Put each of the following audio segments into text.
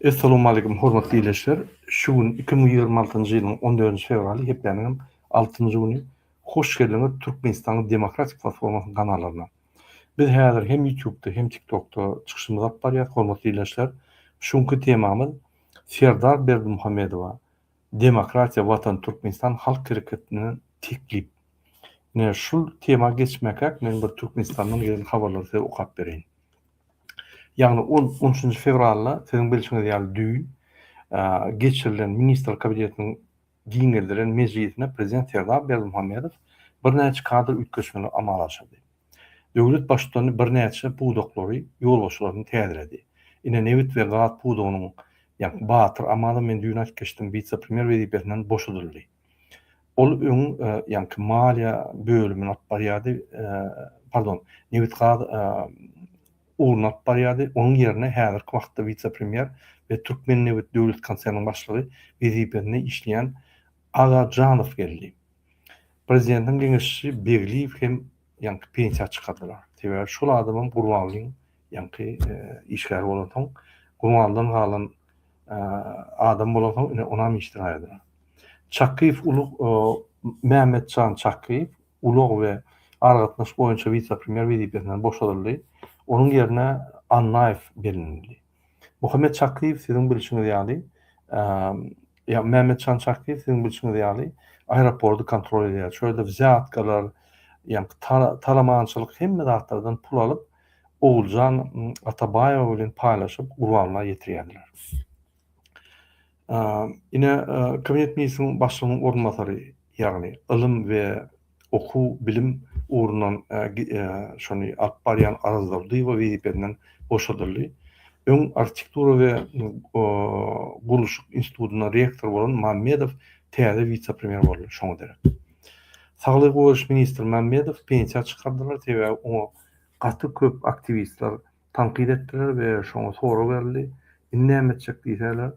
Essalowmalikim hormatly ildeşler! Şu gün iki müň ýigrimi altynjy ýylyň on dördünji fewraly, hepdäniň hem altynjy güni. Hoş geldiňiz Türkmenistanyň Demokratik Platformasynyň kanallaryna. Biz häzir hem Ýutubda hem Tiktokda çykyşymyzy alyp barýas, hormatly ildeşler. Şu günki temamyz Serdar Berdimuhamedowa Demokratiýa Watan Türkmenistan Halk Hereketinden teklip. Ine, şul tema geçmäkäk men bir Türkmenistandan gelen habarlary size okap bereýin. Ýagny ol on üçünji fewralda, siziň bilşiňiz ýaly düýn, geçirilen Ministrler Kabinetiniň giňeldilen mejlisinde prezident Serdar Berdimuhamedow birnäçe kadr üýtgeşmeleri amala aşyrdy. Döwlet Baştutany birnäçe pudaklary, ýolbaşçylaryny täzeledi. Ine, nebit we gaz pudagynyň, ýa Batyr Amazow men düýn aýtgyçdym, wise-premýer wezipesinden boşadyldy. Ol öň ýaňky maliýe bölümini alyp barýardy, pardon, nebit-gaz ugruny alyp barýardy, onuň ýerine häzirki wagtda wise-premýer we Türkmennebit döwlet konserniniň başlygy wezipesinde işleýän Aga Janow geldi. Prezidentiň geňeşçisi Begliýew hem ýaňky pensiýa çykardylar. Sebäbi şol adamam Gurbangulyň ýaňky işgär bolansoň, gurbandan galan adam bolansoň, ine, onam işden aýrylar. Çakyýew ulag, Mämmetjan Çakyýew ulag we aragatnaşyk boýunça wise-premýer wezipesinden boşadyldy, onuň ýerine Annaýew bellenildi. Muhammet Çakyýew, siziň bilşiňiz ýaly, Mämmetjan Çakyýew, siziň bilşiňiz ýaly, aeroporty kontrol edýär, şol ýerde wzýatkalar, ýaňky talamançylyk, hemme zatlardan pul alyp, Oguljan Atabaýewa bilen paýlaşyp Gurbanla ýetirýärler. Ine, Kabinet ministriniň başlygynyň orunbasary, ýagny ylym we okuw, bilim ugrundan şony alyp barýan Araz Durdyýewa wezipesinden boşadyldy. Öň Arhitektura we gurluşyk institutyna rektor bolan Mämmedow täze wise-premýer boldy, şoňa derek. Saglygy goraýyş ministri Mämmedowy pensiýa çykardylar, sebäbi oňa Gaty köp aktiwistler tankyt etdiler we şoňa sorag berildi, indi näme etjek diýseler,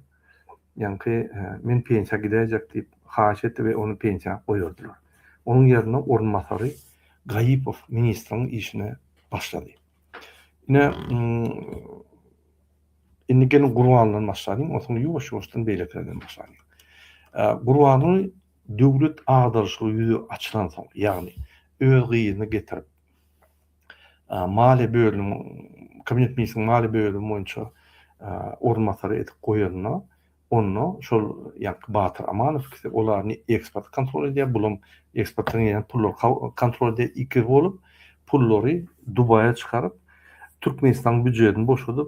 ýaňky men pensiýa gidäýjek diýip haýyş etdi we ony pensiýa goýberdiler. Onuň ýerine orunbasary Gaýypow ministriň işine başlady. Ine, indi geliň Gurbandan başlalyň, onsoň ýuwaş-ýuwaşdan beýlekilerden başlalyň. Gurbany döwlet agdaryşygy ýüze açylansoň, ýagny öz gyzyny getirip, maliýe bölümi Kabinet ministriniň maliýe bölümi boýunça orunbasary edip goýanyna, onda şol ýaňky Batyr Amanovkysy, olar ne eksporty kontrol edýär, bulam eksportdan gelýän pullary kontrol edýär, ikiz bolup, pullary Dubaýa çykaryp, Türkmenistanyň býujetini boşadyp,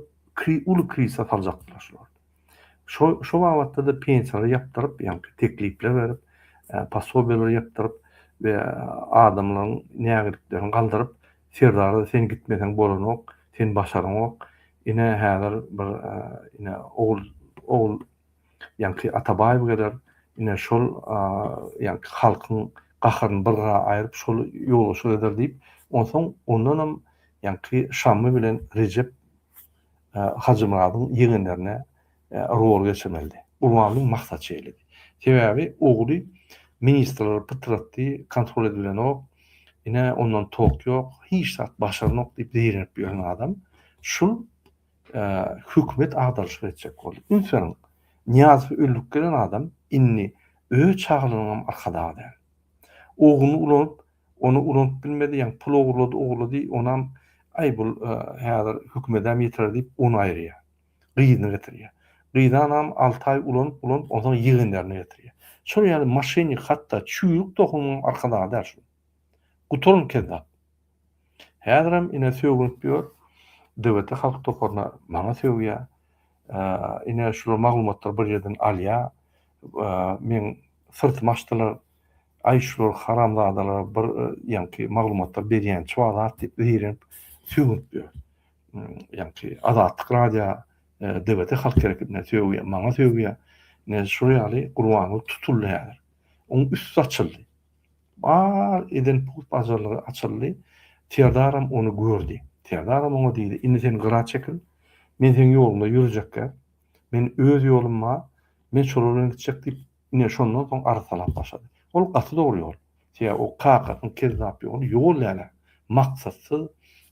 uly krizise saljakdylar şular. Şo şo babatda-da pensiýalary ýapdyryp, ýaňky teklipler berip, posobiýalary ýapdyryp we adamlaryň nägiliklerini galdyryp, Serdara sen gitmeseň bolanok, sen başaranok, ine häzir bir ine ogul ogul ýaňky Atabaýew geler, ine şol ýaňky halkyň gaharyny bir gyra aýryp şol ýolbaşçylyk eder diýip, onsoň ondanam ýaňky Şammy bilen Rejep Hajymyradyň ýegenlerine rol geçirmelidi. Gurbanlyň maksat şeýledi. Sebäbi ogly ministrleri pytratdy, kontrol edilenok, ine, ondan tok ýok, hiç zat başarnok diýip zeýrenip ýören adam şul hökümet agdaryşyk etjek boldy. Üns beriň, Nyýazow öldürip gelen adam indi öz çagalarynyňam arkadagy däl. Ogluny ulanyp, Ony ulanyp bilmedi ýaňy pul ogurlady ogurlady onam aý bul häzir hökümetäm ýetirer diýip ony aýyrýar. Gyzyny getirýär. Gyzanam alty aý ulanyp ulanyp onsoň ýegenlerini getirýär. Şol ýaly maşennik hatda çüýrük tohumyň arkadagda däl şul. Gutaryn kezzap. Häzirem ine sögünip ýör DWT halk toparyna maňa sögýär. Ine şular maglumatlary bir ýerden alýar. Meň syrtymy açdylar. Aý şular haramzadalara bir ýaňky maglumatlar berýänçi bar zat diýip zeýrenip sögünip ýör. Ýaňky Azatlyk radio DBT halk hereketine sögýär, maňa sögýär. Ine şol ýaly Gurbanguly tutuldy häzir. Oň üsti açyldy. Bar eden pug bajarlygy açyldy. Serdaram ony gördi. Serdaram oňa diýdi, indi sen gyra çekil. Men seň ýoluňda ýürjekkä. Men öz ýolum bar. Men şolar bilen gitjek diýip, Ine, şondan soň arsalap başlady. Ol gaty dogry ýol. Sebäbi o kakasynyň kezzap ýoly ýol däl-ä. Maksatsyz,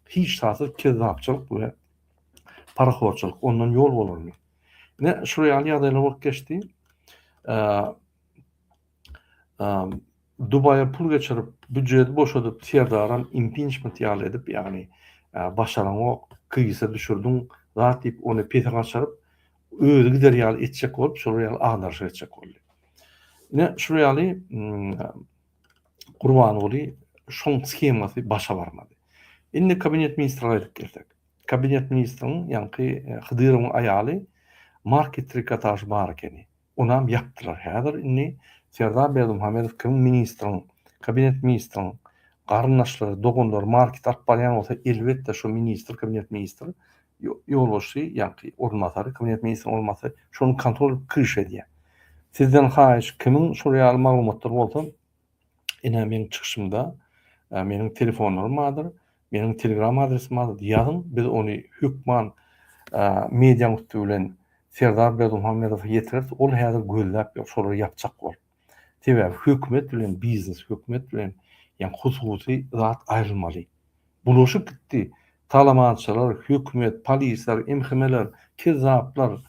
hiçzatsyz kezzapçylyk we parahorçylyk. Ondan ýol bolarmy? Ine, şular ýaly ýagdaýlar bolup geçdi. Dubaýa pul geçirip, býujeti boşadyp, Serdaram impinçment ýaly edip, ýagny başaraňok, krizise düşürdiň zat diýip, ony pese gaçyryp, özi gider ýaly etjek bolup, şolar ýaly agdarşyk etjek boldy. Ine, şular ýaly Gurbanguly şoň skemasy başa barmady. Indi kabinet ministrine gaýdyp gelsek. Kabinet ministriniň ýaňky e, Hydyrowyň aýaly market trikotaž bar ekeni. Onam ýapdylar. Häzir indi Serdar Berdimuhamedow kim ministriň, kabinet ministriň garyndaşlary, doganlary market alyp barýan bolsa, elbetde şu ministr, kabinet ministr ýolbaşçy ýa-ki orunbasary, kabinet ministriniň orunbasary şony kontrol edip kiriş edýär. Sizden haýyş, kimiň şol ýaly maglumatlary bolsa, ine, meniň çykyşymda meniň telefonlarym bardyr, meniň telegram adresim bardyr, ýazyň, biz ony hökman medianyň üsti bilen Serdar Berdimuhamedowa ýetireris, ol häzir gözläp ýör, şolary ýapjak bolup. Sebäbi hökümet bilen biznes, hökümet bilen ýa hususy zat aýrylmaly. Bulaşyk gitdi. Talabançylar, hökümet, polisler, MHM-ler, kezzaplar,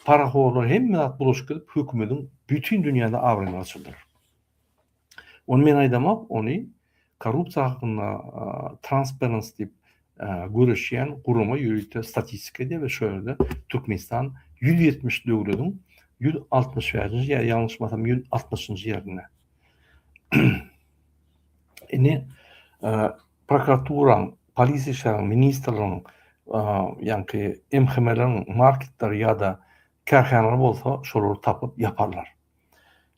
parahorlar hemme zat bulaşyk gidip hökümediň bütin dünýäde abraýyny gaçyrdylar. Ony men aýdamok, ony korrupsiýa hakynda Transparency diýip göreşýän gurama ýörite statistika edýär we şo ýerde Türkmenistan ýüz ýetmiş döwletiň ýüz altmyş bäşinji ýa ýalňyşmasam ýüz altmyşynjy ýerinde. Indi prokuraturaň, polisiýa işleriň, ministrligiň, ýaňky MHM-leriň marketleri ýa-da kärhanalary bolsa şolary tapyp ýaparlar.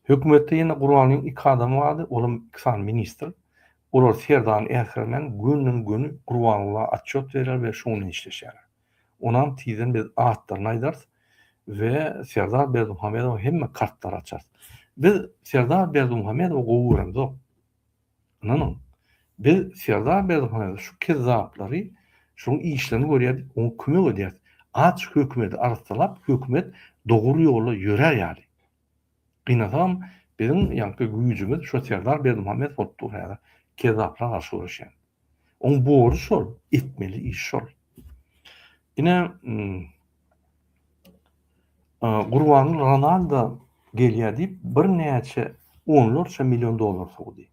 Hökümetde ýene Gurbangulyň iki adamy bardy, olam iki sany ministr. Olar Serdany äsgermän günün-gün Gurbangulla atçot berýär we şuny işleşýärler. Onam tizden biz atlaryny aýdarys we Serdar Berdimuhamedowa hemme kartlary açarys. Biz Serdar Berdimuhamedowy gowy göremzok. Ynanyň. Biz Serdar Berdimuhamedow şu kezzaplary, şunuň işlerini görýärdik, oňa kömek edýäris. Aç hökümeti arassalap, hökümet dogry ýola ýörär ýaly. Gynansagam, biziň ýaňky güýjümiz şo Serdar Berdimuhamedow bolup dur häzir, kezzaplara garşy göreşýän. Oň borjy şol, etmeli işi şol. Ine, Gurbanguly Ronaldo gelýär diýip, birnäçe onlarça million dollar sowdy.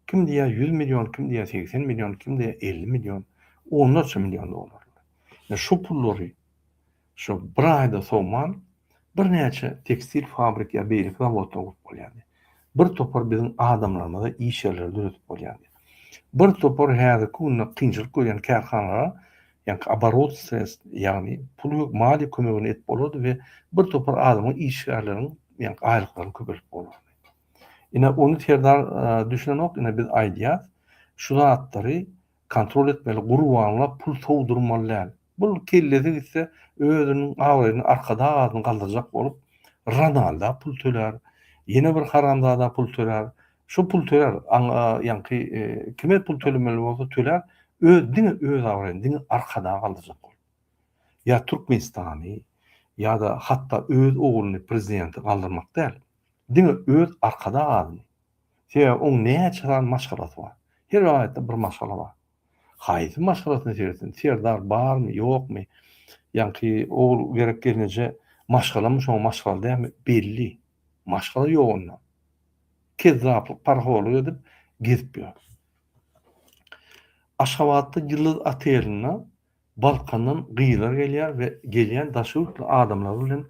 Kim diýýär, ýüz million, kim diýýär, segsen million, kim diýýär, elli million, onlarça million dollar. Ine, şu pullary Şo bir aýda sowman, birnäçe tekstil fabrik ýa beýleki zawodlar gurup bolýardy. Bir topar biziň adamlarymyza iş ýerleri döredip bolýardy. Bir topar häzirki günde kynçylyk görýän kärhanalara ýaňky oborot sredstw, ýagny pul we maliýe kömegini edip bolardy we bir topar adamyň işgärleriň ýaňky aýlyklaryny köpeldip bolardy. Ine, ony Serdar düşünenok, ine biz aýdýas, şu zatlary Kontrol etmeli gurbanlar pul sowdurmaly däl. Bul kellesi gitse özüniň abraýyny arkadag adyny galdyrjak bolup Ronalda pul tölär ýene bir haramzada pul tölär şu pul tölär ýaňky kime pul tölemeli bolsa tölär öz diňe öz abraýyny diňe arkadag galdyrjak bolup ýa Türkmenistany ýada hatda öz ogluny prezidenti galdyrmak däl diňe öz arkadag adyny Sebäbi oň näçe sany maşgalasy bar. Her welaýatda bir maşgala bar. Haýsy maşgalasyny seretsin, serdar barmy, ýokmy, ýaňky ogul gerek gelneje maşgalamy şoň maşgala dälmi belli. Maşgala ýok onda. Kezzaplyk, parahorlyk edip gezip ýör. Aşgabatda Ýyldyz otelinde Balkandan gyzlar gelýär we gelýän daşy ýurtly adamlar bilen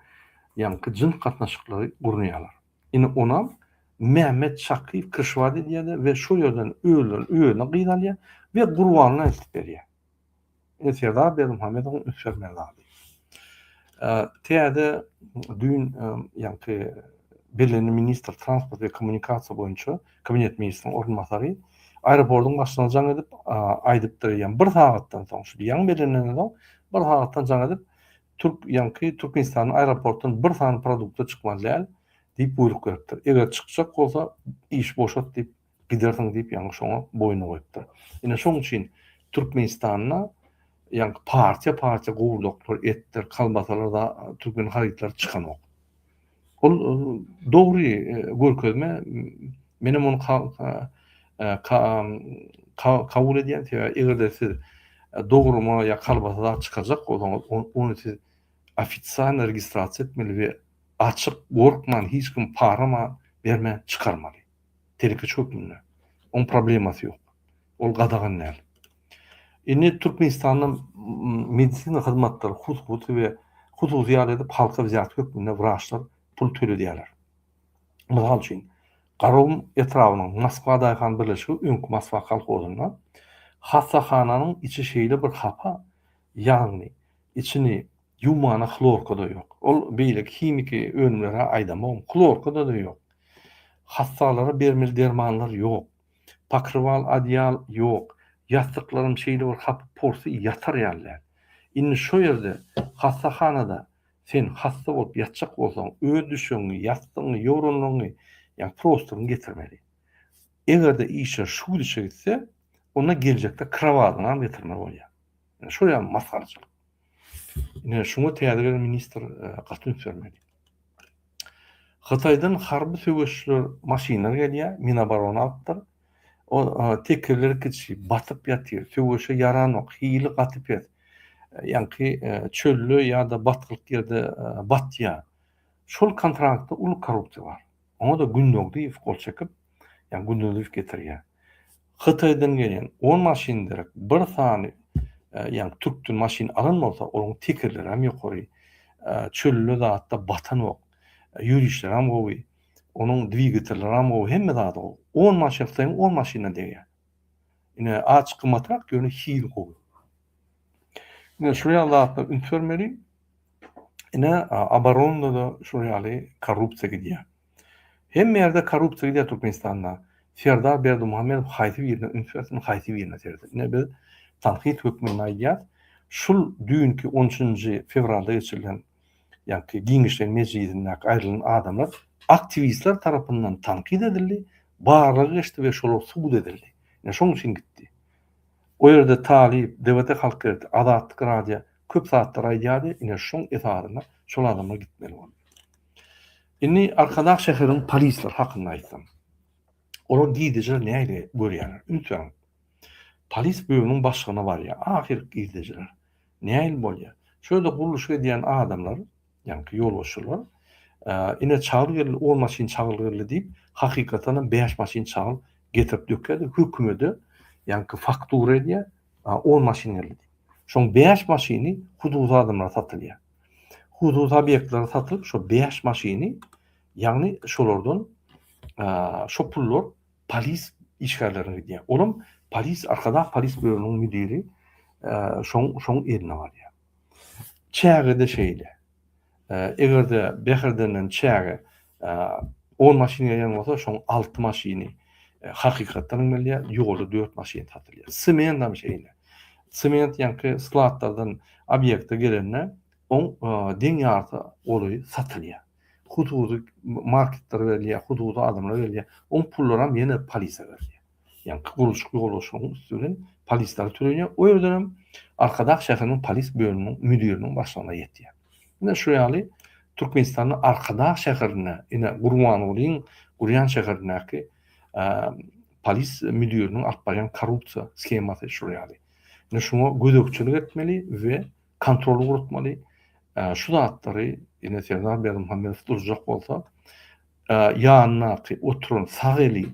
ýaňky jyns gatnaşyklary gurnaýarlar. Ine onam Mehmet Şakyýew kryşwat edýär-de we şo ýerden özlerini özüne gyz alýar we Gurbanyna eltip berýär. Ine Serdar Berdimuhamedowyň ünsgermän zady. Täze düýn ýaňky bellenildi ministr transport we kommunikasiýa boýunça kabinet ministriň orunbasary aeroportyň başyna jaň edip aýdypdyr ýa bir sagatdan soň şu ýaňy bellenenden soň bir sagatdan jaň edip türk ýaňky türkmenistanyň aeroportdan bir sany produkty çykmaly däl diýip buýruk beripdir eger çykjak bolsa iş boşat diýip gidersiň diýip ýaňy şoňa boýun goýupdyr ine şoň üçin türkmenistanda ýaňky partiýa partiýa gowurdaklar etdir kalbasalar da türkmen harytlary çykanok Ol dogry görkezme. Menem ony kabul edýän. Sebäbi eger-de siz dogruma ýa kalbasa zat çykarjak bolsaňyz, ony siz ofitsialny registrasiýa etmeli we açyk, gorkman, hiç kimi parama bermän çykarmaly. telekeçi hökmünde. Oň problemasy ýok. Ol gadagan däl. Indi Türkmenistanda medisina hyzmatlary hususy we hususy ýaly edip halka wzýat hökmünde wraçlar pul töledýärler. Mysal üçin, Garagum etrabynyň Moskwa daýhan birleşigi, öňki Moskwa kolhozynda, hassahananyň içi şeýle bir hapa, ýagny içini Ýuwmana hlorka-da ýok. Ol beýleki himiki önümler-hä aýdamok, hlorka-da-da ýok. Hassalara bermeli dermanlar ýok. Pokrywal, adyýal ýok. Ýassyklaram şeýle bir hapy porsy ýatar ýaly däl. Indi şo ýerde, hassahanada sen hassa bolup ýatjak bolsaň, öz düşegiňi, ýassygyňy, ýoranlaryňy, ýa prostoryňy getirmeli. Eger-de işler şu gidişe gitse, onda geljekde krowadyňam getirmeli bolýar. Şol ýaly masgarçylyk. Ine, şuňa täze gelen ministr e, gaty üns bermeli. Hytaýdan harby söweşçiler maşynlar gelýär, Minoborono alypdyr. O e, tekerleri kiçi, batyp ýatyr, söweşe ýaranok, hili gaty pes. E, ýaňky çölde ýa-da batgylyk ýerde batýar. Şol kontraktda uly korrupsiýa bar. Oňa-da Gündogdyýew gol çekip, ýa gündelik getirýär. Hytaýdan gelen on maşyn derek bir sany ýa türkden maşyn alan bolsa olaň tekerleri hem ýokary çölde zatda batanok ýörişleri hem gowy onuň dwigatelleri hem gowy hemme zady gowy on maşyn hytaýyň on maşynyna degýär. Ine azçyk gymmatrak ýöne hili gowy. Ine şular ýaly zatlara üns bermeli. Ine obaronada şular ýaly korrupsiýa gidýär. Hemme ýerde korrupsiýa gidýär Türkmenistanda. Serdar Berdimuhamedow haýsy birine üns bersin, haýsy birine seretsin. Ine biz tankyt hökmünde aýdýas, şul düýnki on üçünji fewralda geçirilen ýagty giňişleýin mejlisindäki aýrylan adamlar aktiwistler tarapyndan tankyt edildi, barlagy geçdi we şolar subut edildi. Ine şoň üçin gitdi. O ýerde Talyp, DWT Halk Gerti, Azatlyk Radia köp zatlar aýdýardy, ine şoň esasynda şol adamlar gitmeli boldy. Indi Arkadag şäheriniň polisleri hakynda aýtsam. Olar gizlijeler nähili görýärler? Üns beriň. Polis bölüminiň başlygyna barýar. Ahyr gizlijeler. Nähili bolýar? Şu ýerde gurluşyk edýän adamlar, ýaňky ýolbaşçylar, Ine çagyl geldi, on maşyn çagyl geldi diýip, hakykatdanam bäş maşyn çagyl getirip dökýärdi. Hökümede ýaňky faktura edýär, on maşyn geldi diýip. Şoň bäş maşyny hususy adamlara satylýar. hususy obýektleri satylyp şo bäş maşyny ýagny şolardan şo pullar polis işgärlerine gidýär. Olam polis arkadag polis bölüminiň müdiri şoň şoň eline barýar. Çäge-de şeýle. Eger-de Bäherdenden çäge On maşyn gelýän bolsa, şoň alty maşyny hakykatdan gelýär, ýolda dört maşyn satylýar. Sement hem şeýle. Sement ýaňky skladlardan obýekte gelende, oň deň ýarty goly satylýar. Hususy marketler gelýär, hususy adamlar gelýär. Oň pullaram ýene polisiýa berýär. Ýaňky gurluşyk ýolyşygyň üsti bilen polisler türenýär. O ýerden hem Arkadag şäheriniň polis bölüminiň müdiriniň başlygyna ýetýär. Ine şu ýaly Türkmenistanda Arkadag şäherinde, ine Gurbangulyň gurýan şäherindäki polis müdiriniň alyp barýan korrupsiýa skemasy şu ýaly. Ine şuňa gözegçilik etmeli we kontroly gurutmaly. Şu zatlary ine Serdar Berdimuhamedow durjak bolsa, ýanyndaky oturan sag eli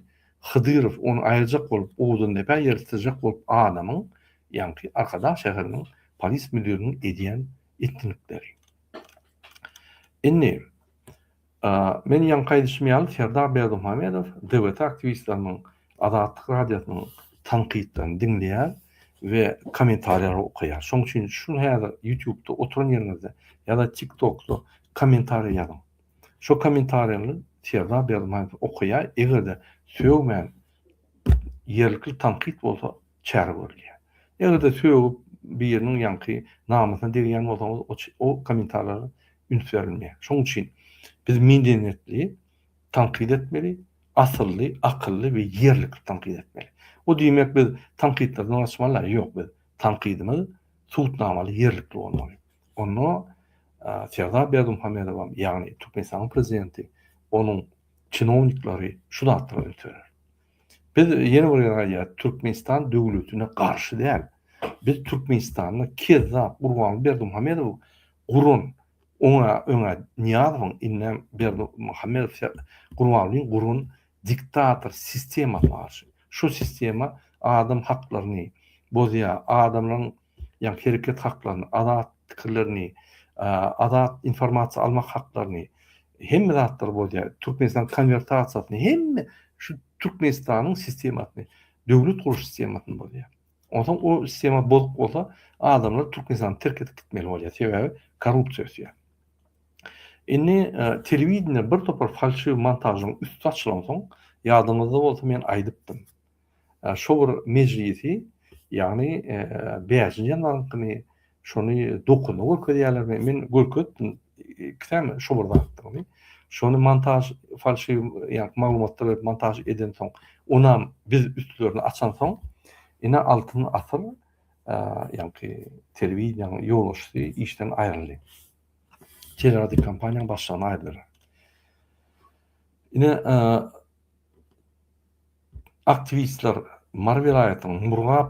Hydyrow ony aýyrjak bolup, owdan depä ýertdirjek bolup adamyň, ýaňky Arkadag şäheriniň polis müdiriniň edýän etdinikleri. Indi Men ýaňky aýdyşym ýaly Serdar Berdimuhamedow DBT aktiwistleriniň, Azatlyk radiosynyň tankytlaryny diňleýär we kommentariýalary okaýar. Şonuň üçin şu häzir ýutubda oturan ýeriňizde ýa-da tiktokda kommentariýa ýazyň. Şo kommentariýalary Serdar Berdimuhamedow okaýar, eger-de sögmän ýerlikli tankyt bolsa çäre görülýär. Eger-de sögüp biriniň ýaňky namysyna degýän bolsaňyz o o kommentarlara üns berilmeýär. Şoň üçin biz medenýetli tankyt etmeli, asylly, akylly we ýerlikli tankyt etmeli. Bu diýmek biz tankytlardan gaçmaly ýok biz tankydymyz subutnamaly ýerlikli bolmaly. Onda Serdar Berdimuhamedowam ýagny Türkmenistanyň prezidenti onuň çinowniklary şu zatlara üns berer. Biz ýene bir gezek aýdýarys, Türkmenistan döwletine garşy däl. Biz Türkmenistanda kezzap Gurbanguly Berdimuhamedow guran, oňa öňe Nyýazowyň, indem Berdimuhamedow Gurbangulyň guran diktator sistemasyna garşy. Şu sistema adam haklaryny bozýar, adamlaryň ýagny hereket haklaryny, azat pikirlerini, azat informasiýa almak haklaryny, hemme zatlary bolýar. Türkmenistanyň konwertasiýasyny, hemme şu Türkmenistanyň sistemasyny, döwlet gurluş sistemasyny bolýar. Onsoň o sistema bozuk bolsa, adamlar Türkmenistany terk edip gitmeli bolýar, sebäbi korrupsiýa ösýär. Indi e, telewideniýe bir topar falşiw montažyň üsti açylansoň, ýadyňyzda bolsa men aýdypdym. Şo bir mejlisi, ýagny bäşinji ýanwaryňkyny, şony dokunda görkezýärlermi, men görkezipdim iki sany şo bir zatdygyny. Şony montaž falşiw, ýagny maglumatlar berip montaž edensoň, onam biz üstlerini açansoň, ine Altyn asyr, ýagny telewideniýäniň ýolbaşçysy işden aýryldy. Teleradiokompaniýanyň başlygyna aýrylar. Ine, Aktiwistler Mary welaýatynyň Murgap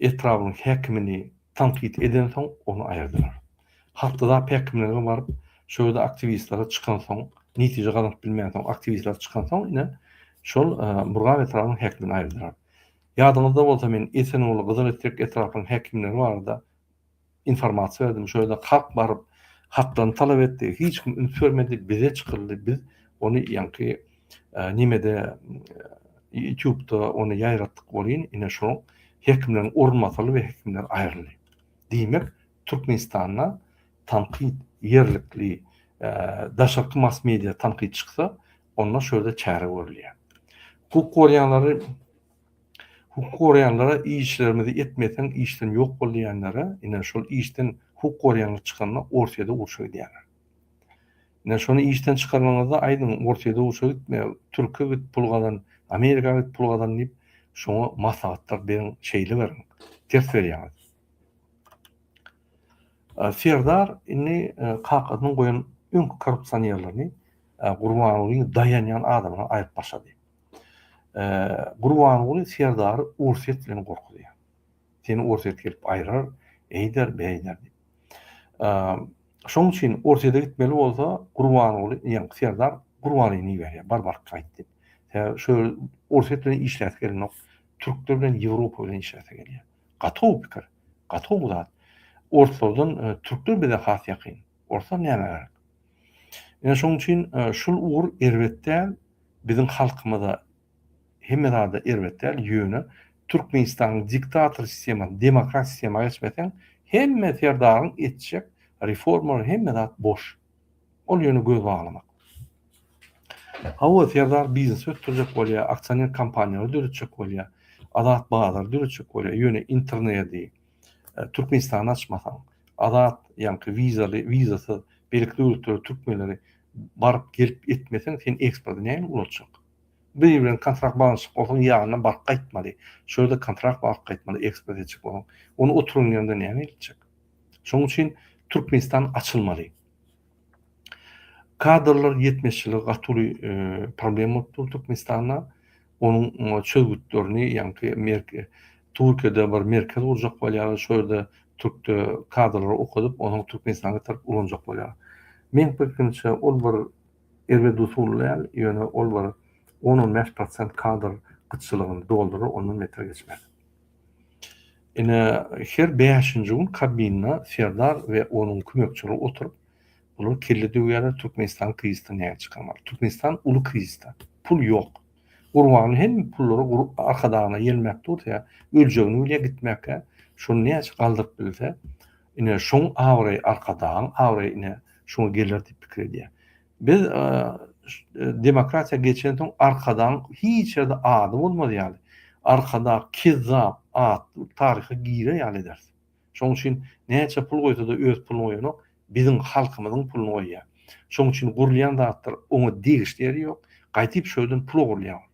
etrabynyň häkimini tankyt edensoň, ony aýyrdylar. Haftada päkimlige baryp, şo ýerde aktiwistlere çykansoň, netije gazanyp bilmänsoň, aktiwistler çykansoň, ine, şol Murgap etrabynyň häkimini aýyrdylar. Ýadyňyzda bolsa, men Esenguly, Gyzyl etrek etraplaryň häkimleri barada, informasiýa berdim. Şo ýerde halk baryp, haklaryny talap etdi. Hiç kim üns bermedi. Bize çykyldy. Biz ony ýaňky nimede ýutubda ony ýaýratdyk welin, ine şo hekimleriň orun masaly we hekimler aýryldy. Diýmek, Türkmenistanda tankyt ýerlikli daşarky mass media tankyt çyksa, onda şo ýerde çäre görülýär. Hukuk gorýanlary Hukuk goraýanlara işlerimizi etmeseň işden ýok bol diýenlere ine şol işden hukuk goraýanlar çykanda Orsýede urşa gidýärler. Ine şony işden çykarmaňyzda aýdyň Orsýede urşa gitme Türkiýe git pul gazan Amerika git pul gazan diýip şoňa maslahatlar beriň şeýle beriň ters berýäňiz. Serdar indi kakasynyň goýan öňki korrupsionerlerini Gurbangulyny daýanýan adamyna aýyp başlady. Gurbanguly Serdary Orsýet bilen gorkuzýar. Seni Orsýet gelip aýrar, eýder, beýder diýip. Şoň üçin Orsýete gitmeli bolsa, Gurbanguly, ýa Serdar Gurbanlyny iberýär, bar baryp gaýt diýip. Sebäbi şu Orsýet bilen işläsi gelenok. Türkler bilen Ýewropa bilen işläsi gelýär. Gatow pikir, gatow zat. Orslardan türkler bize has ýakyn. Bolsa näme gerek? Ine şonuň üçin şul ugur erbet däl, biziň halkymyza hemme zada erbet däl, ýöne Türkmenistanyň diktator sistemasy demokrat sistema geçmeseň hemme serdaryň etjek reformalary hemme zat boş. Ol ýöne göz baglamak. Hawa serdar biznes ösdürjek bolýar, aksioner kompaniýalary döretjek bolýar, azat bazary döretjek bolýar, ýöne internedi, Türkmenistany açmasaň, azat, ýaňky wizaly, wizasyz beýleki döwletlere türkmenleri baryp gelip etmeseň sen eksporty nähili ulatjak? Biri bilen kontrakt baglanyşyk bolsaň ýanyna baryp gaýtmaly, şo ýerde kontrakt bagyp gaýtmaly eksport etjek bolsaň. Ony oturan ýerinde näme etjek? Şoň üçin Türkmenistan açylmaly. Kadrlar ýetmezçiligi gaty uly problem bolup dur Türkmenistanda. Onuň çözgütlerini ýaňky Türkiýede bir merkez gurjak bolýarlar, şo ýerde türk kadrlary okadyp, onuň Türkmenistana getirip ulanjak bolýar. Meň pikrimçe, ol bir erbet usul däl, ýöne ol bir on-on bäş prosent kadr gytçylygyny doldurar, ondan beter geçmez. Ine, her bäşinji gün kabinda Serdar we onuň kömekçileri oturyp, Olar kelle döwýärler Türkmenistan krizisden näme çykarmaly. Türkmenistan uly krizisde. Pul ýok. Gurbany hem pullary arkadagyna ýelmäp dursa, öljegini bilýär gitmäkä. Şony näçe galdyryp bilse, ine şoň abraýy arkadagyň abraýy ine şoňa geler diýip pikir edýär. Biz demokratiýa geçensoň arkadagyň hiç ýerde ady bolmaz ýaly, arkadag kezzap atly taryha girer ýaly ederis. Şoň üçin näçe pul goýsada öz puluny goýanok, biziň halkymyzyň puluny goýýar. Şoň üçin gurulýan zatlar oňa degişli ýeri ýok, gaýdyp şu ýerden pul ogurlaýar ol.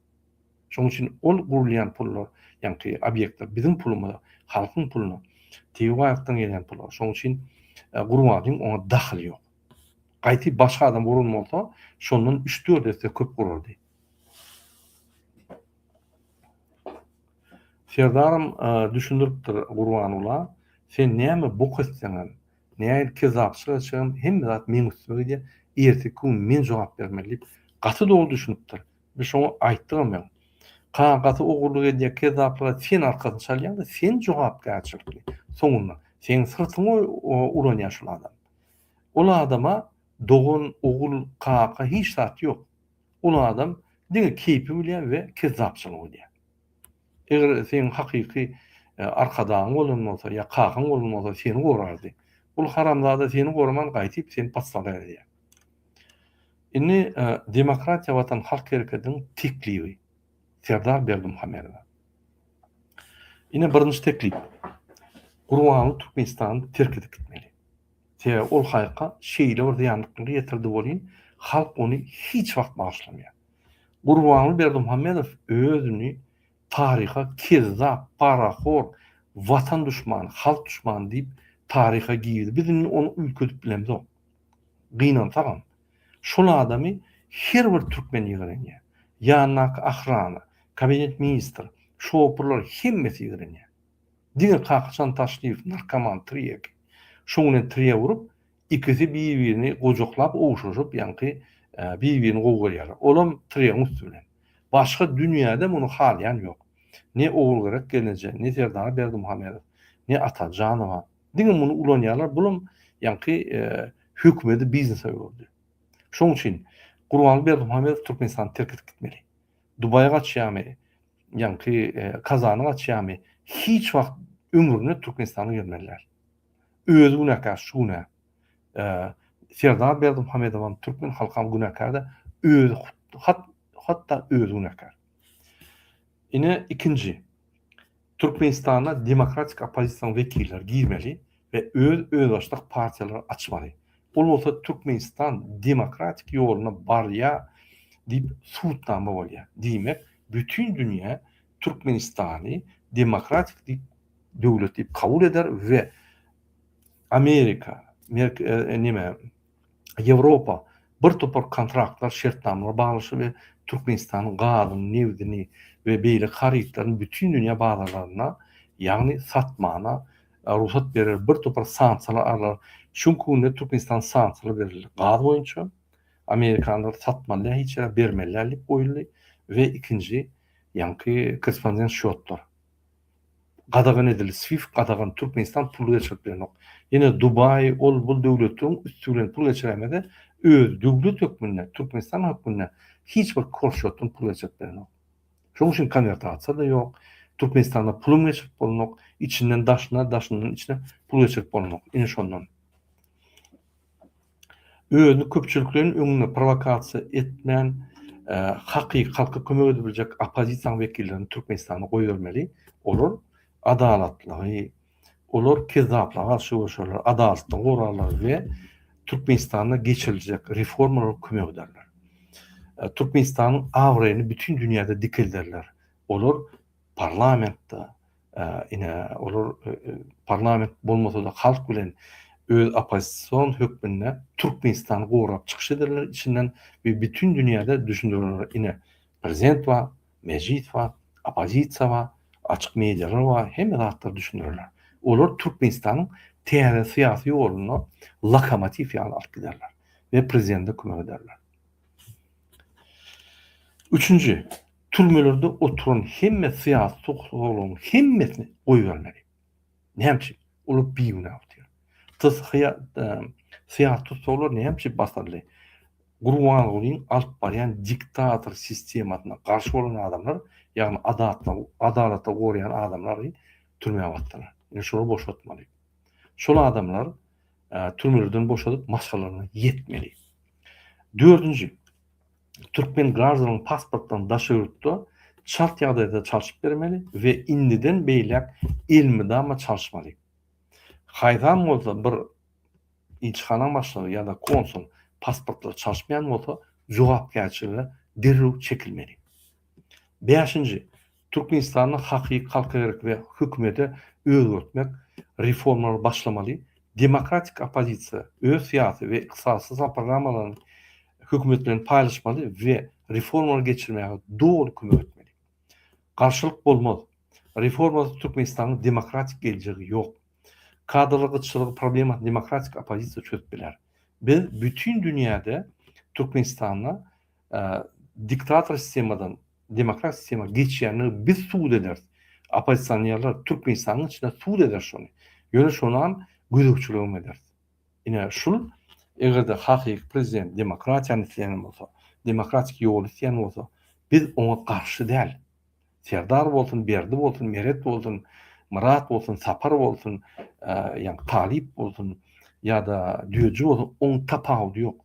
Şoň üçin ol gurulýan pullar, ýaňky obýektler biziň pulumyza, halkyň puluna, tebigy baýlykdan gelýän pula. Şoň üçin Gurbanlyň oňa dahyly ýok. Gaýty başga adam guran bolsa, şondan üç-dört esse köp gurardy. Serdaram düşündiripdir Gurbanula sen näme bok etseňem, nähili kezzapçylyk etseňem hemme zat meň üstüme gidýär, erteki gün men jogap bermeli diýip gaty dogry düşünipdir. Biz şoňa aýtdygam hem. Kaan gaty ogurlyk edýär, kezzaplyga sen arkasyny çalýaň-da, sen jogapkärçilikli soňunda. Seň syrtyňy ulanýar şol adam. Ol adama dogan, ogul, kaka hiç zat ýok. Uly adam diňe keýpi bilýär we kezzapçylyk edýär. Eger seniň hakyky arkadagyň bolan bolsa ýa kakaň bolan bolsa seni gorardy. Ol haramzada seni goraman gaýtyp seni paslaga äwedýär. Indi Demokratiýa Watan halk hereketiniň teklibi Serdar Berdimuhamedowa. Ine birinji teklip. Gurbanow Türkmenistany terk edip gitmeli. Sebäbi ol haýka şeýle bir zyýanlyklary ýetirdi welin, halk ony hiç wagt bagyşlamaýar. Gurbanguly Berdimuhamedow özüni taryha kezzap, parahor, watan duşmany, halk duşmany diýip taryha girdi. Biz indi ony üýtgedip bilemzok. Gynansagam. Şol adamy her bir türkmen ýigrenýär. Ýanyndaky ahrana, kabinet ministr, şopurlar hemmesi ýigrenýär. Diňe kakyşan Taşlyýew narkoman Trýek. Şoň bilen Trýe urup, ikisi bir-birini gojaklap ogşaşyp, ýaňky bir-birini gowy görýärler. Olam Trýeň üsti bilen. Başga dünýäde muny halaýan ýok. Ne Ogulgerek gelneje, ne Serdar Berdimuhamedow, ne Atajanowa. Diňe muny ulanýarlar, bulam ýaňky hökümedi biznese öwürdi. Şoň üçin Gurbanguly Berdimuhamedow Türkmenistany terk edip gitmeli. Dubaýy gaçýamy, ýaňky Kazany gaçýamy, hiç wagt ömründe Türkmenistana gelmeli däl. Özi günäkär şu günä. Serdar Berdimuhamedowam, türkmen halkam günäkär-de, özi hat hatda özi günäkär. Ine ikinji. Türkmenistana demokratik oppozisiýanyň wekilleri girmeli we öz özbaşdak partiýalary açmaly. Ol bolsa Türkmenistan demokratik ýoluna barýa diýip subutnama bolýa. Diýmek, bütin dünýä Türkmenistany demokratik diýip döwlet diýip kabul eder we Amerika, Merk, neme, Ýewropa bir topar kontraktlar, şertnamalar baglaşdy we Türkmenistanyň gazyny, nebdini we beýleki harytlaryny bütin dünýä bazarlarynda, ýagny satmana rugsat berer, bir topar sanksiýalar arlar. Şu günki günde Türkmenistan sanksiýalar berildi. Gaz boýunça amerikanlar satmalydýar, hiç ýere bermelidäl diýip goýuldy we ikinji ýaňky korrespondent şotlar. gadagan edildi, swift gadagan, Türkmenistan pul geçirip bilenok, ýene Dubaý ol bul döwletleriň üsti bilen pul geçiremese öz döwlet hökmünde Türkmenistan hökmünde hiç bir korşotdan pul geçirip bilenok. Şoň üçin konwertasiýada ýok, Türkmenistanda pulum geçirip bolanok, içinden daşyna, daşyndan içine pul geçirip bolanok, ine şondan. özüni köpçülikleýin öňünde prowokasiýa etmän hakyky halka kömek edip biljek oppozisiýanyň wekillerini Türkmenistana goýbermeli. Olar adalatlygy, olar kezzaplyga garşy göreşerler, adalatlygy gorarlar we Türkmenistanda geçiriljek reformalara kömek ederler. Türkmenistanyň abraýyny bütin dünýäde dikelderler. Olar parlamentde ine olar parlament bolmasada halk bilen öz oppozision hökmünde Türkmenistany gorap çykyş ederler içinden we bütin dünýäde düşündiriler ine prezident bar mejlis bar oppozisiýa bar açyk medialar bar hemme zatlar düşündiriler olar Türkmenistanyň täze syýasy ýoluna lokomotiw ýaly alyp giderler we prezidente kömek ederler. Üçünji Türmelerde oturan hemme syýasy tussaglaryň hemmesini goýbermeli. Näme üçin? Olar bigünä otyr. TSHA syýasy tussaglar näme üçin basyldy? Gurbangulyň alyp barýan diktator sistemasyna garşy bolan adamlar, ýagny adatlygy, adalaty goraýan adamlary türmä basdylar. Indi şolary boşatmaly. Şol adamlar türmelerden boşadyp maşgalalaryna ýetmeli. Dördünji, türkmen graždanyny pasportdan daşy ýurtda çalt ýagdaýda çalşyp bermeli we indiden beýläk elmydama çalşmaly. Haýsam bolsa bir ilçihanaň başlygy ýa-da konsul pasportlary çalşmaýan bolsa jogapkärçilige derrew çekilmeli. Bäşinji, Türkmenistanda hakyky halka gerek we hökümede özgertmek reformalary başlamaly, demokratik oppozisiýa öz syýasy we ykdysady sosial programmalaryny hökümet bilen paýlaşmaly we reformalary geçirmäge doly kömek etmeli. Garşylyk bolmaz. Reformasyz Türkmenistanyň demokratik geljegi ýok. Kadrlar gytçylygy problemasyny demokratik oppozisiýa çözüp biler. Biz bütin dünýäde Türkmenistanda diktator sistemadan demokrat sistema geçýänligi biz subut ederis. Oppozisionerler Türkmenistanyň içinde subut eder şony. Ýöne şonam gözegçiligem ederis. Ine şul eger-de hakyky prezident demokratiýany isleýän bolsa, demokratik ýoly isleýän bolsa, biz oňa garşy däl. Serdar bolsun, Berdi bolsun, Meret bolsun, Myrat bolsun, Sapar bolsun, ýa Talyp bolsun, ýa-da Düýeji bolsun, oň tapawudy ýok.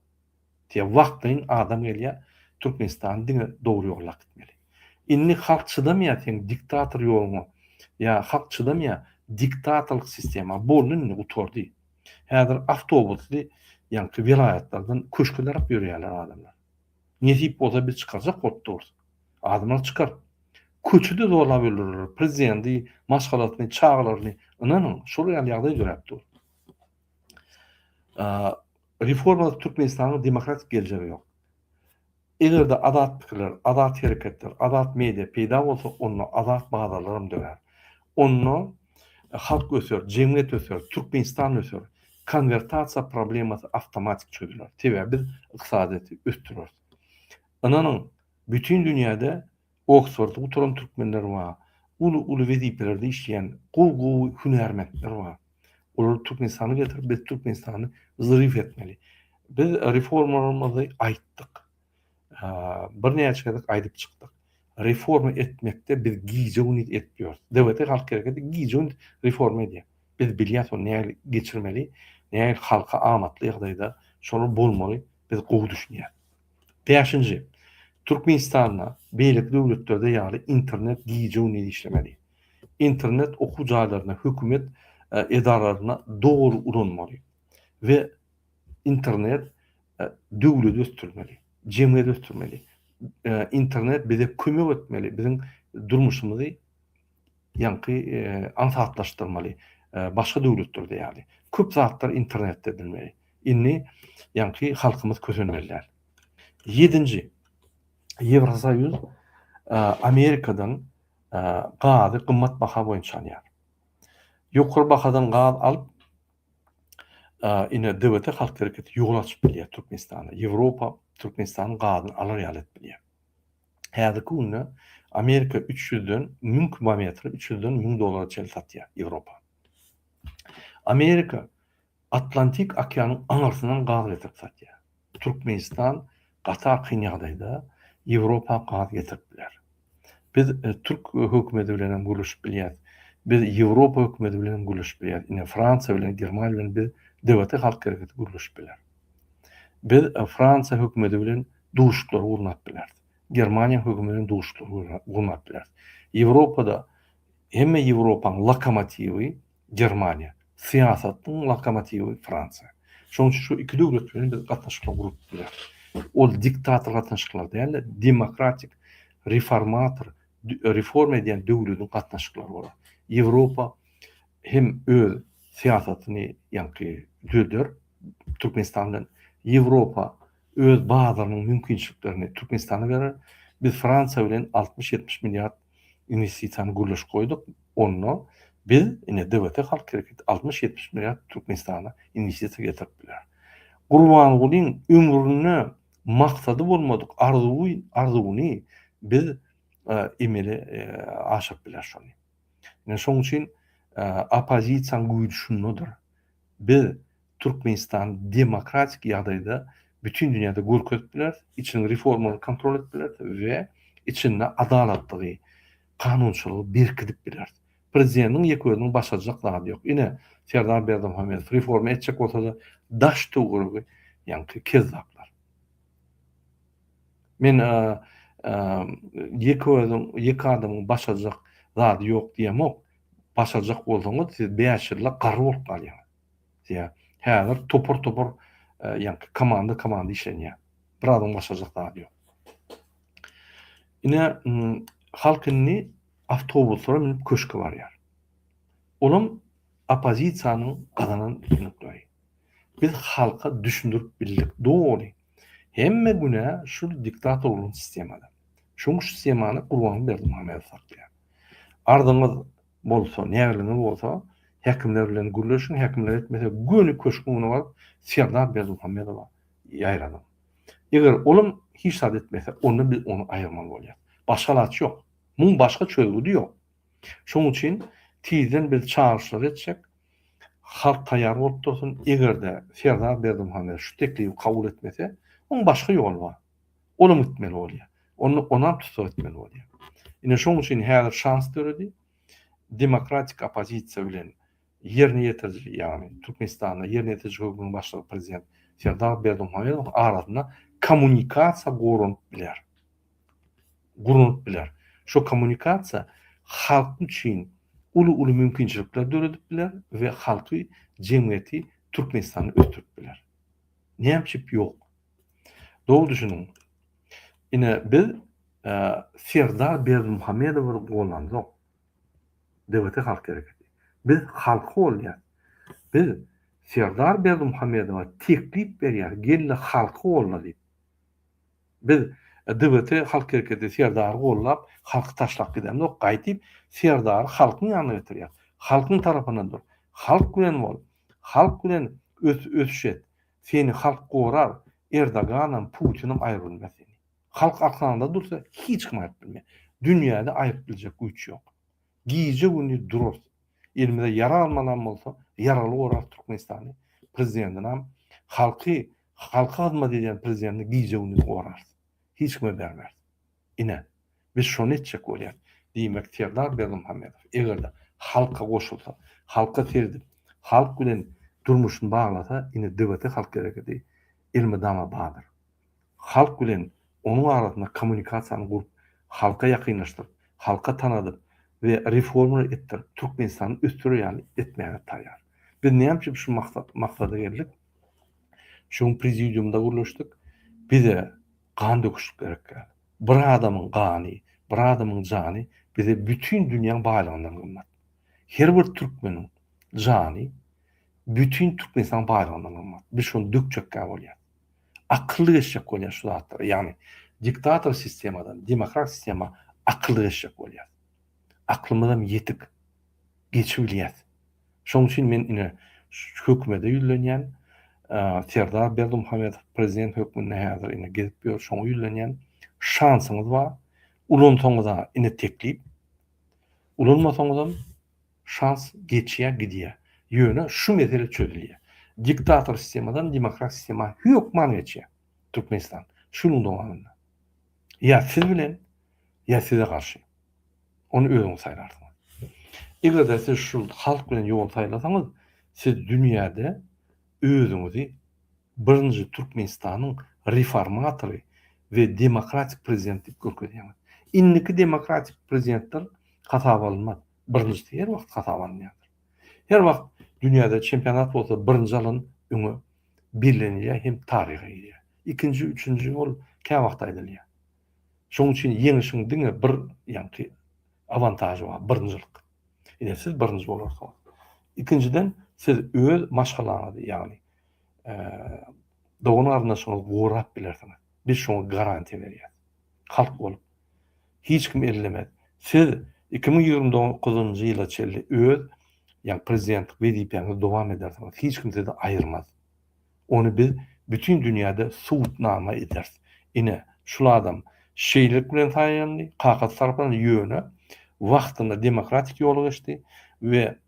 Diýe wagtlaýyn adam gelýä Türkmenistan diňe dogry ýola gitmeli. Indi halk çydamýa seň diktator ýoluňa ýa halk çydamýa diktatorlyk sistema boldy indi gutardy. Häzir awtobusly ýaňky welaýatlardan köşke tarap ýörýäler adamlar. Nesip bolsa biz çykarjak bolup durus. Adamlar çykar. Köçede zorlap öldürerler prezidenti, maşgalasyny, çagalaryny. Ynanyň şol ýaly ýagdaý döräp dur. Reformasyz Türkmenistanyň demokratik geljegi ýok. Eger-de azat pikirler, azat hereketler, azat media peýda bolsa, onda azat bazarlar hem dörär. Onda halk öser, jemgyýet öser, Türkmenistan öser, konwertasiýa problemasy awtomatik çözüler. Sebäbi biz ykdysadyýeti ösdüreris. Ynanyň, bütin dünýäde Oksfordy gutaran türkmenler bar. Uly-uly wezipelerde işleýän gowy-gowy hünärmentler bar. Olary Türkmenistana getirip, biz Türkmenistany zryw etmeli. Biz reformalarymyzy aýtdyk. Birnäçe gezek aýdyp çykdyk. Reforma etmekde biz gije-gündiz edip ýörüs. DWT halk hereketi gije-gündiz reforma edýär. Biz bilýäs ony nähili geçirmeli, nähili halka amatly ýagdaýda şolar bolmaly, biz gowy düşünýäs. Bäşinji, Türkmenistanda beýleki döwletlerde ýaly internet gije-gündiz işlemeli. Internet okuw jaýlarynda, hökümet edaralarynda dogry ulanmaly we internet döwleti ösdürmeli, jemgyýeti ösdürmeli. Internet bize kömek etmeli, biziň durmuşymyzy ýaňky aňsatlaşdyrmaly başga döwletlerde ýaly köp zatlar internetde edilmeli. Indi ýaňky halkymyz kösenmeli däl. Ýedinji, Ýewrosoýuz Amerikadan gazy gymmat baha boýunça alýar. Ýokary bahadan gaz alyp, ine DWT halk hereketi ýol açyp bilýär Türkmenistana. Ýewropa Türkmenistanyň gazyny alar ýaly edip bilýär. Häzirki günde Amerika üç ýüzden müň kubometri, üç ýüzden müň dollara çenli satýar, Ýewropa. Amerika Atlantik okeanyň aňyrsyndan gaz getirip satýar. Türkmenistan gaty kyn ýagdaýda, Ýewropa gaz getirip biler. Biz türk hökümeti bilen hem gürleşip bilýäris. Biz Ýewropa hökümeti bilen hem gürleşip bilýäris. Ine, Fransiýa bilen, Germaniýa bilen biz DWT halk hereketi gürleşip biler. Biz Fransiýa hökümeti bilen duşuşyklary gurnap bileris. Germaniýa hökümi bilen duşuşyklary gurnap bileris. Ýewropada hemme Ýewropanyň lokomotiwi Germaniýa, syýasatyň lokomotiwi Fransiýa. Şonuň üçin şu iki döwlet bilen biz gatnaşyklar gurup bileris. Ol diktator gatnaşyklar däl-de, demokratik, reformator, reforma edýän döwletiň gatnaşyklary bolar. Ýewropa hem öz syýasatyny ýaňky düzeder Türkmenistan bilen. Ýewropa öz bazarynyň mümkinçiliklerini Türkmenistana berer. Biz Fransiýa bilen altmyş-ýetmiş milliard inwestisiýany gürleşip goýduk. Onda biz, ine, DWT halk hereketi altmyş-ýetmiş milliard Türkmenistana inwestisiýa getirip biler. Gurbangulyň ömründe maksady bolmadyk arzuwy, arzuwyny biz emele aşyryp bileris şony. Ine, şonuň üçin oppozisiýanyň güýji şundadyr. Biz Türkmenistany demokratik ýagdaýda bütin dünýäde görkezip bileris, içiniň reformalaryny kontrol edip bileris we içinde adalatlygy, kanunçylygy berkidip bileris. Prezidentiň ýeke özüniň başarjak zady ýok. Ine, Serdar Berdimuhamedow reforma etjek bolsa-da, daş töweregi ýaňky kezzaplar. Men ýeke özüň, ýeke adamyň başarjak zady ýok diýemok. Başarjak bolsaňyz, siz bäş ýyla garry bolup galýaňyz. Diýä. Häzir topar-topar ýaňky komanda-komanda işlenýä. Bir adam başarjak zady ýok. Ine, halk indi awtobuslara münüp köşke barýar. Olam oppozisiýanyň gazanan üstünlikleri. Biz halka düşündirip bildik doly. Hemme günä şu diktatorlygyň sistemada. Şoň sistemany Gurbanguly Berdimuhamedow saklaýar. Arzyňyz bolsa, nägiliňiz bolsa, häkimler bilen gürleşiň, häkimler etmese, göni köşgüň öňüne baryp, Serdar Berdimuhamedowa ýaýradyň. Eger olam hiç zat etmese, onda biz ony aýyrmaly bolýarys. Başga alaç ýok. Muň başga çözgüdi ýok. Şoň üçin tizden biz çagyryşlary etjek. Halk taýýar bolup dursyn. Eger-de Serdar Berdimuhamedow şu teklibi kabul etmese, oň başga ýoly bar. Olam gitmeli bolýar. Onda onam tussag etmeli bolýar. Ine şoň üçin häzir şans döredi. Demokratik oppozisiýa bilen ýerine ýetiriji, ýagny Türkmenistanda ýerine ýetiriji hökümiň başlygy prezident Serdar Berdimuhamedowyň arasynda kommunikasiýa goranyp biler. Guranyp biler. Şo kommunikasiýa halk üçin uly-uly mümkinçilikler döredip biler we halky, jemgyýeti, Türkmenistany ösdürip biler. Näme üçip ýok? Dogry düşüniň. Ine, biz Serdar Berdimuhamedowy gollanzok. DBT halk hereketi. Biz halk golýas. Biz Serdar Berdimuhamedowa teklip berýäs, gel-de halk golla diýip. Biz DBT halk hereketi Serdary gollap, halky taşlap gidemzok, gaýdyp Serdary halkyň ýanyna getirýäs. Halkyň tarapynda dur. Halk bilen bol. Halk bilen ös-ösüş et. Seni halk gorar Erdoganam Putinam aýyrybilmez seni. Halk arkaňda dursa hiç kim aýyryp bilmez. Dünýäde aýyryp biljek güýç ýok. Gije gündiz durarys. Elimize ýara almalam bolsa ýaraly gorarys Türkmenistany prezidendinam halky halka hyzmat edýän prezidenti gije gündiz gorarys. Hiç kime bermeris. Ine, biz şony etjek bolýarys. Diýmek, Serdar Berdimuhamedow, eger-de halka goşulsa, halka seredip, halk bilen durmuşyny baglasa, indi DBT halk hereketi elmydama bardyr. Halk bilen onuň arasynda kommunikasiýany gurup, halka ýakynlaşdyryp, halka tanadyp we reformalar etdirip, Türkmenistany ösdürer ýaly etmäge taýýar. Biz näme üçin şu maksada geldik? Şu gün prezidiumda gürleşdik. Bize Gan döküşip gerekýär. Bir adamyň gany, bir adamyň jany bize bütin dünýäň baýlygyndan gymmat. Her bir türkmeniň jany bütin Türkmenistanyň baýlygyndan gymmat. Biz şony dökjekkä bolýar. Akylly geçjek bolýar şu zatlara. Ýagny diktator sistemadan demokrat sistema akylly geçjek bolýar. Aklymyzam ýetik. geçibilýär. Şonuň üçin men ine hökümede ýüzlenýän, Serdar Berdimuhamedow prezident hökmünde häzir ine gezip ýör, şoňa ýüzlenýän. Şansyňyz bar, ulansaňyz-a ine teklip, ulanmasaňyzam şans geçýär, gidýär. Ýöne şu mesele çözülýär. Diktator sistemadan demokrat sistema hökman geçýär Türkmenistan şu ýylyň dowamynda. Ýa siz bilen, ýa size garşy. Ony özüňiz saýlarsyňyz. Eger-de siz şu halk bilen ýol saýlasaňyz, siz dünýäde özüňizi birinji Türkmenistanyň reformatory we demokratik prezidenti diýip görkezýäňiz. Indiki demokratik prezidentler hasaba alynmaz. Birinjisi her wagt hasaba alynýardyr. Her wagt dünýäde çempionat bolsa birinji alan öňe bellenilýär hem taryha girýär. Ikinji, üçünji ol käwagt aýdylýar. Şonuň üçin ýeňişiň diňe bir ýaňky awantažy bar, birinjilik. Ine, siz birinji bolarsyňyz. Ikinjiden, siz öz maşgalaňyzy, ýagny dogan-garyndaşyňyzy gorap bilersiňiz. Biz şoňa garantiýa berýäs. Halk bolup, hiç kim ellemez. Siz iki müň ýigrimi dokuzynjy ýyla çenli öz, ýagny prezidentlik wezipäňizi dowam edersiňiz. Hiç kim sizi aýyrmaz. Ony biz bütin dünýäde subutnama ederis. Ine, şul adam şeýlelik bilen saýlandy, kakasy tarapyndan, ýöne wagtynda demokratik ýoly geçdi we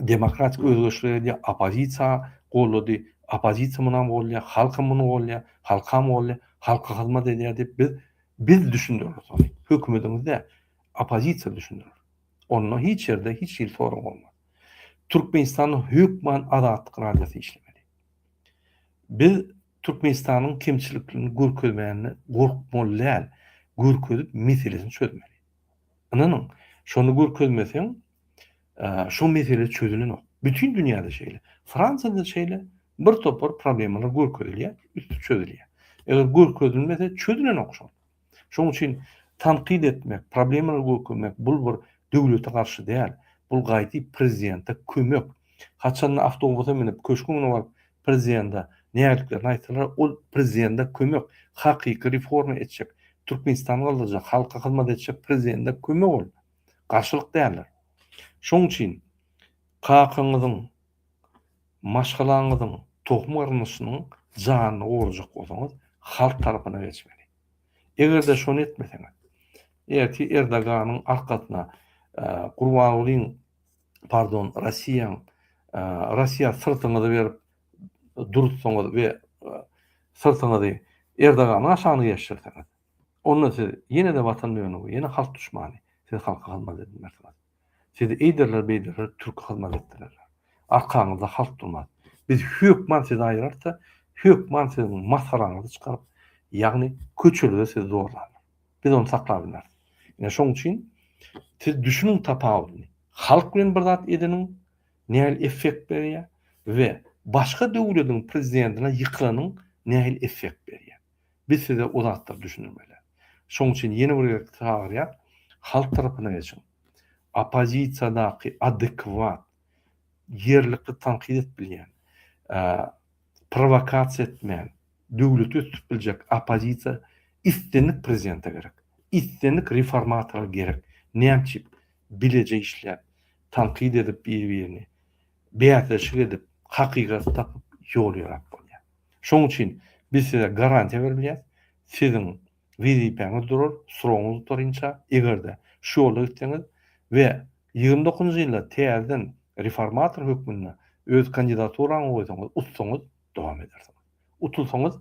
demokratik özgerişleri edýär, oppozisiýa goldady, oppozisiýa munam goldaýar, halkam muny goldaýar, halkam goldaýar, halka hyzmat edýär diýip biz, biz düşündireris ony. Hökümediňiz däl, oppozisiýa düşündirer. Onda hiç ýerde hiç hili sorag bolmaz. Türkmenistanda hökman Azatlyk radiosy işlemeli. Biz Türkmenistanyň kemçiliklerini görkezmände gorkmaly däl, görkezip meselesini çözmeli. Ynanyň, şony görkezmeseň, şo mesele çözülenok. Bütin dünýäde şeýle. Fransiýada şeýle bir topar problemalar görkezilýär, üsti çözülýär. Eger görkezilmese, çözülenok şol. Şonuň üçin tankyt etmek, problemalary gökürmek bul bir döwlete garşy däl, bul gaýdyp prezidente kömek. Haçanda awtobusa münüp köşgüň öňüne baryp prezidende nägiliklerini aýtsalar ol prezidende kömek, hakyky reforma etjek, Türkmenistany galdyrjak, halka hyzmat etjek prezidende kömek ol. Garşylyk däldir. Şonuň üçin kakaňyzyň Maşgalaňyzyň tohum-garyndyşynyň janyny gorajak bolsaňyz, halk tarapyna geçmeli. Eger-de şony etmeseňiz, ertir Erdoganyň arkasyna Gurbangulyň, pardon, Rossiýaň, Rossiýa syrtyňyzy berip dursaňyz we syrtyňyzy Erdoganyň aşagyna geçirseňiz, onda siz ýene-de Watan dönügi, ýene halk duşmany, siz halka hyzmat edinmersiňiz. Sizi eýderler-beýderler türki hyzmat etdirerler. Arkaňyzda halk durmaz. Biz hökman sizi aýyrarys-da, hökman siziň masgaraňyzy çykaryp, ýagny köçelide sizi zorlarlar. Biz ony saklap bilmeris. Ine şoň üçin siz düşüniň tapawudyny. Halk bilen bir zat edeniň nähili effekt berýär we başga döwlediň prezidentine ýykylanyň nähili effekt berýär. Biz size o zatlary düşündirmelä. Şoň üçin ýene bir gezek çagyrýas, halk tarapyna geçiň. Oppozisiýadaky adekwat, ýerlikli tankyt edip bilýän, prowokasiýa etmän, döwleti ösdürip biljek oppozisiýa islendik prezidente gerek. Islendik reformatora gerek. Näme üçin bileje işläp, tankyt edip biri-birini, bäsleşik edip, hakykaty tapyp ýol ýörap bolýar. Şonuň üçin biz size garantiýa berilýär, siziň wezipäňiz durar, srogyňyz gutarynça, eger-de şu ýolda gitseňiz we ýigrimi dokuzynjy ýylda täzeden reformator hökmünde öz kandidaturaňyzy goýsaňyz, utsaňyz, dowam edersiňiz. Utulsaňyz,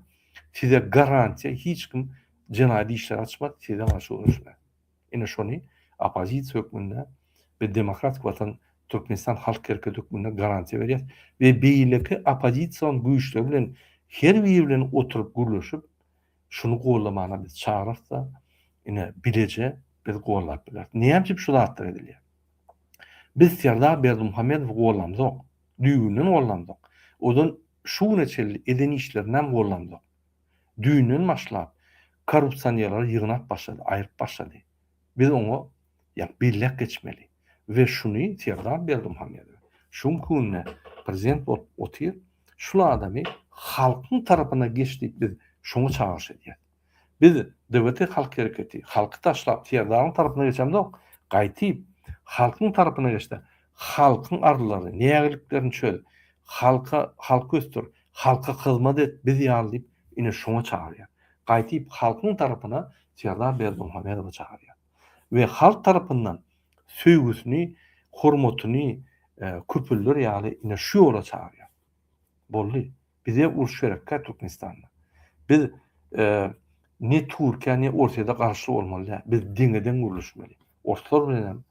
size garantiýa hiç kim jenaýat işleri açmaz, size garşy göreşmez. Ine şony oppozisiýa hökmünde biz Demokratik Watan Türkmenistan halk hereketi hökmünde garantiýa berýäs we beýleki oppozision güýçler bilen her biri bilen oturyp gürleşip şuny goldamana biz çagyrasda ine bileje biz goldap bileris. Näme üçin şu zatlar edilýär? Biz Serdar Berdimuhamedowy goldamzok. Düýbünden goldamzok. Odan şu güne çenli eden işlerini hem goldamzok. düýnden başlap korrupsionerleri ýygnap başlady, aýryp başlady. Biz oňa ýa belläp geçmeli we şuny Serdar Berdimuhamedow şu günki günde prezident bolup otyr, şul adamy halkyň tarapyna geç diýip biz şoňa çagyryş edýäs. Biz DBT Halk Hereketi halky taşlap Serdaryň tarapyna geçemzok, gaýtyp halkyň tarapyna geçde halkyň arzlaryny, nägiliklerini çöz, halka halky ösdür, Halka hyzmat et biz ýaly diýip ine şoňa çagyrýar. Gaýtyp halkyň tarapyna Serdar Berdimuhamedowy çagyrýar. We halk tarapyndan söýgüsini, hormatyny köpelder ýaly ine şu ýola çagyrýar. Boldy. Bize uruş gerekkä Türkmenistanda. Biz ne Türkiýä ne Orsýede garşy bolmaly däl. Biz deňe-deň gürleşmeli. Orslar bilen hem,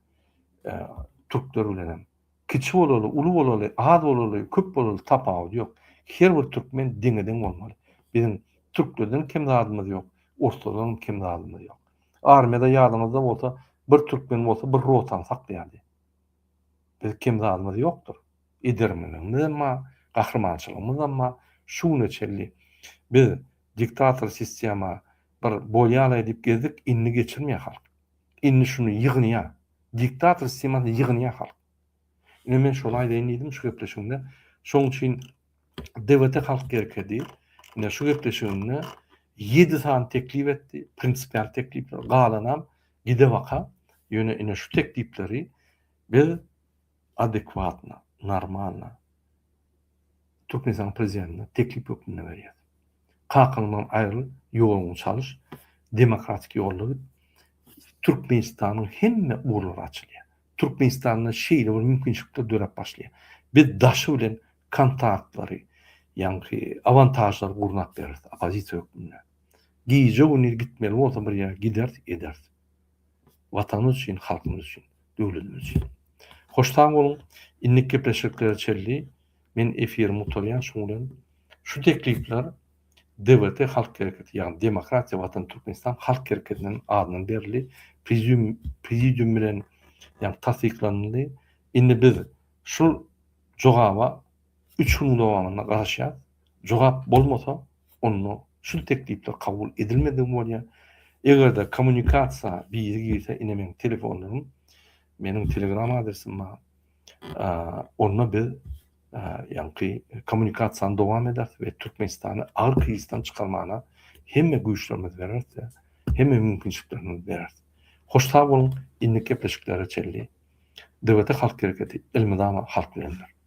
türkler bilen hem. Kiçi bolaly, uly bolaly, az bolaly, köp bolaly tapawudy ýok. Her bir türkmen deňe-deň bolmaly. Biziň türklerden kem zadymyz ýok, orslardanam kem zadymyz ýok. Armiýada ýadyňyzda bolsa bir türkmen bolsa bir rotany saklaýardy. Biz kem zadymyz ýokdur. Edermenligimizem bar, gahrymançylygymyzam bar. Şu güne çenli biz diktator sistema bir bolýalaý diýip gezdik, indi geçirmeýär halk. Indi şuny ýygnaýa. Diktator sistemasyny ýygnaýa halk. Ine men şony aýdaýyn diýdim şu gepleşigimde. Şoň üçin DWT halk gerkedi. Ine şu gepleşigimde ýedi sany teklip etdi, prinsipial teklipler, galanam gidebaka. Ýöne ine şu teklipleri biz adekwatna, normalna Türkmenistanyň Prezidentine teklip hökmünde berýär. Kakaňdan aýryl, ýoluňy çalyş, demokratik ýolda git, Türkmenistanyň hemme ugurlary açylýar. Türkmenistanda şeýle bir mümkinçilikler döräp başlaýar. Biz daşy bilen kontaktlary, ýaňky awantažlary gurnap bereris oppozisiýa hökmünde. Gije-gündiz gitmeli bolsa bir ýere gideris, ederis. Watanymyz üçin, halkymyz üçin, döwletimiz üçin. Hoş sag boluň. Innik gepleşiklere çenli men efirimi gutarýan şuň bilen. Şu teklipler DWT halk hereketi ýagny Demokratiýa Watan Türkmenistan halk hereketiniň adyndan berildi. Prezium prezidium bilen ýagny tassyklanyldy. Indi biz şul jogaba Üç günüň dowamynda garaşýas. Jogap bolmasa, onda şul teklipler kabul edilmedigi bolýar. Eger-de kommunikasiýa biri girse, ine meniň telefonlarym, meniň telegram adresim bar. Onda biz ýaňky kommunikasiýany dowam ederis we Türkmenistany agyr krizisden çykarmagyna hemme güýçlerimizi bereris we hemme mümkinçiliklerimizi bereris. Hoş sag boluň, indiki gepleşiklere çenli DWT Halk Hereketi elmydama halk bilendir.